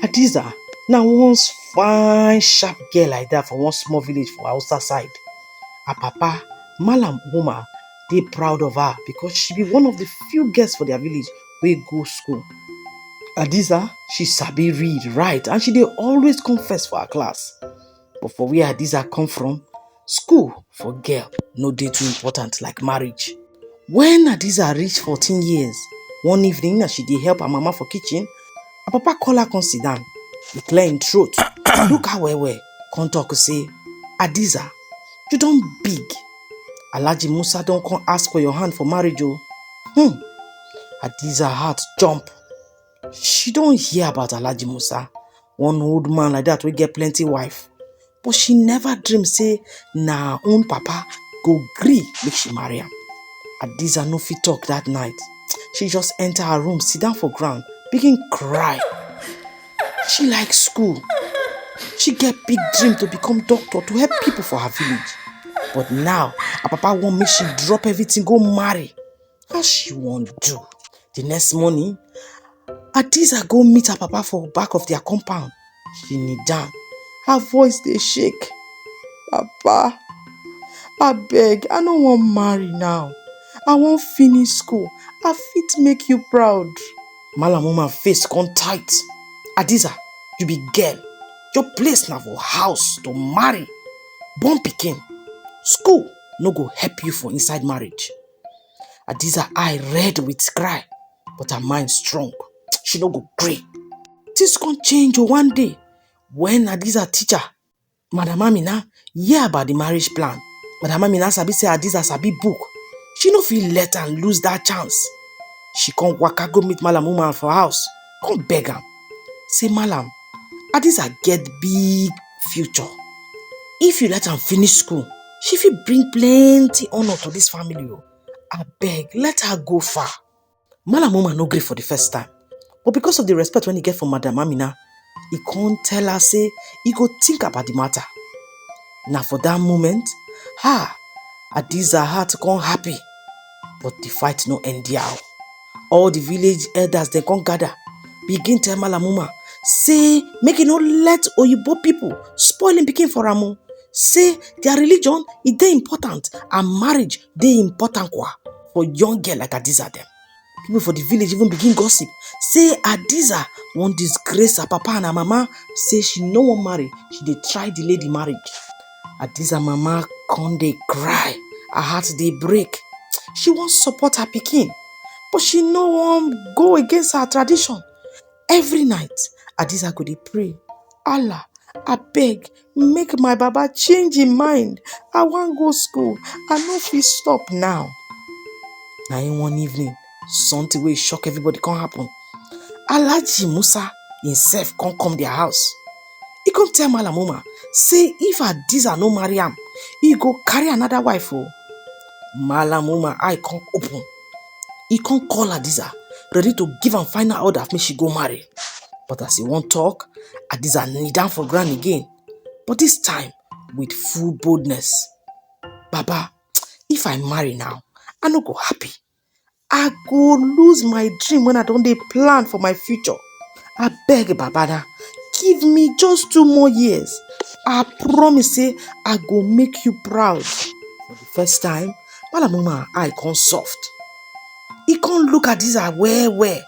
Hadiza na once fine sharp girl like that for one small village for Hausa side. Her papa, Malam Umar, dey proud of her because she be one of the few girls for their village wey go school. Hadiza, she sabi read, write and she dey always come first for her class. but for where hadiza come from school for girl no dey too important like marriage when hadiza reach fourteen years one evening as she dey help her mama for kitchen her papa call her come sit down he clear him throat look her well well come talk say hadiza you don big alhaji musa don come ask for your hand for marriage o hmm hadiza heart jump She don hear about Alhaji Musa, one old man like that wey get plenty wife, but she never dream say na her own papa go gree make she marry am. Hadiza no fit talk that night, she just enter her room, sit down for ground, begin cry. She like school, she get big dream to become doctor to help people for her village, but now her papa want make she drop everything go marry. How she wan do? The next morning, Adiza go meet her papa for back of their compound. She kneel down. Her voice dey shake. Papa, abeg, I no wan marry now. I wan finish school. I fit make you proud. Malam woman face come tight. Adiza, you be girl. Your place na for house to marry, born pikin. School no go help you for inside marriage. Adiza eye red with cry, but her mind strong. She no go gree. Things come change o one day when Adiza teacher, Madam Amina, hear about the marriage plan. Madam Amina sabi say Adiza sabi book. She no fit let am lose that chance. She come waka go meet Malam Umar for house. come beg am say malam adiza get big future if you let am finish school she fit bring plenty honour to dis family o abeg let her go far malam umar no gree for the first time but because of the respect wey he get for madam amina he come tell her say he go think about the matter na for that moment her adiza heart come happy but the fight no end there o. all the village elders dem come gather begin tell malamuma say make e no let oyibo people spoil im pikin for am o say their religion e dey important and marriage dey important kwa for young girl like adiza dem people for the village even begin gossip say adiza wan disgrace her papa and her mama say she no wan marry she dey try delay the marriage Adiza mama come dey cry, her heart dey break. She wan support her pikin, but she no wan go against her tradition. Every night, Adiza go dey pray, Allah, abeg make my baba change im mind. I wan go school, I no fit stop now. Na im one evening, something wey shock everybody come happen. Alhaji Musa himself come come their house. He come tell Malam Umar, say if Adiza no marry am, he go carry another wife o. Oh. Malam Umar eye come open. He come call Adiza, ready to give am final order make she go marry. But as he wan talk, Adiza kneel down for ground again. But this time, with full boldness. Baba, if I marry now, I no go happy. I go lose my dream when I don't dey plan for my future. I beg Babana, give me just two more years. I promise say I go make you proud. For the first time, Malamuma eye come soft. He come look at this eye well well.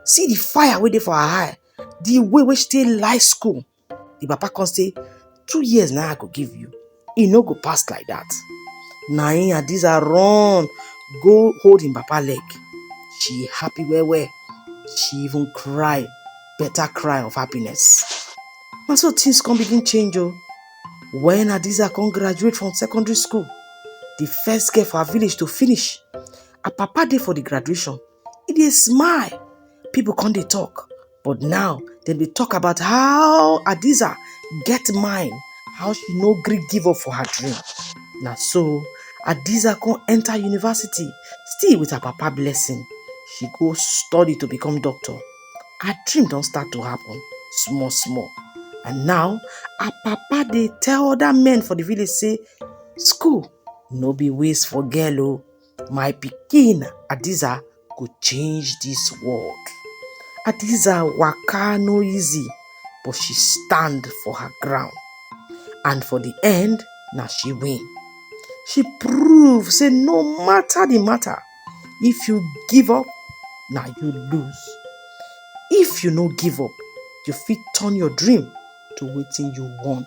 See the fire waiting for her eye. The way which they like school. The papa come say, two years now I go give you. He no go pass like that. Na him Adiza run go hold him papa leg. She happy well well. She even cry, better cry of happiness. Na so things come begin change o. When Adiza come graduate from secondary school, the first girl for her village to finish, her papa dey for the graduation. e dey smile people come dey talk but now dem dey talk about how adiza get mind how she no gree give up for her dream na so adiza come enter university still with her papa blessing she go study to become doctor her dream don start to happen small small and now her papa dey tell other men for the village say school no be waste for girl o My pikin Adiza go change this world. Adiza waka no easy but she stand for her ground and for the end na she win. She prove say no matter the matter, if you give up na you lose. If you no give up, you fit turn your dream to wetin you want.